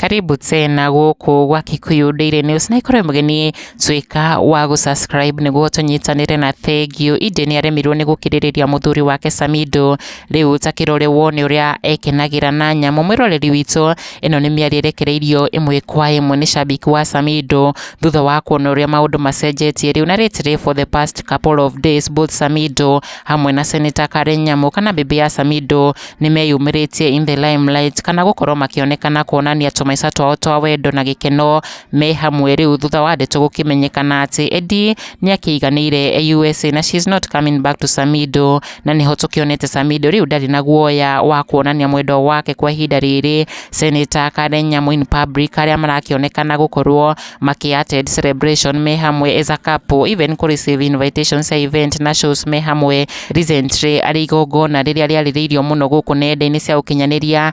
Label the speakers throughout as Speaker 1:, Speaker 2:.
Speaker 1: Karibu tena gũkũ gwa Kikuyu Daily News na ikorwo mũgeni tuĩka wa gũ subscribe nĩguo tũnyitanĩre na thengio. Inde nĩ aremirwo nĩ gũkirĩrĩria mũthuri wake Samido, rĩu ta kĩrore wone ũrĩa ekenagĩra na nyamũ. Mwĩroreri witũ Ĩno nĩ mĩario ĩrekereirio ĩmwe kwa ĩmwe nĩ shabiki wa Samido thutha wa kuona ũrĩa maũndũ macenjetie rĩu na rĩtirĩ for the past couple of days both Samido hamwe na Senator Karen Nyamu kana bibi ya Samido nĩ meyumĩrĩtie in the limelight kana gũkorwo makĩonekana kuonania tũmaica twao twa wendo na gĩkeno me hamwe rĩu thutha wa ndeto gũkĩmenyekana atĩ Eddie nĩ akĩiganĩire USA na she is not coming back to Samido na nĩho tũkĩonete Samido rĩu ndarĩ na guoya wa kuonania mwendo wake kwa ihinda rĩrĩ Senator Karen Nyamu in public arĩa marakĩonekana gũkorwo makĩ attend celebration me hamwe as a couple even kũ receive invitations cia event na shows me hamwe recently arĩ igongona rĩrĩa rĩarĩrĩirio mũno gũkũ nenda-inĩ cia ũkinyanĩria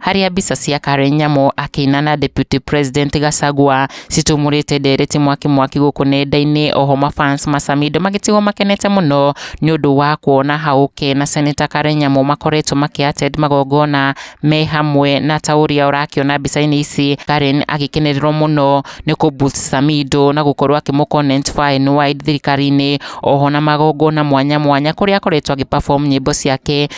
Speaker 1: harĩa mbica cia Karen Nyamo akĩina na Deputy President Gachagua citumũrĩte ndereti mwaki mwaki gũkũ nenda-inĩ oho mafans macamido magĩtigwo makenete mũno nĩ ũndũ wa kuona Haũke na Senator Karen Nyamo makoretwo makĩattend magongona me hamwe na ta ũrĩa ũrakĩona mbica-inĩ ici Karen agĩkenererwo mũno nĩ kũ boost Samido na gũkorwo akĩmũ comment far and wide thirikari-inĩ oho na magongona mwanya mwanya kũrĩa akoretwo agĩ perform nyĩmbo ciake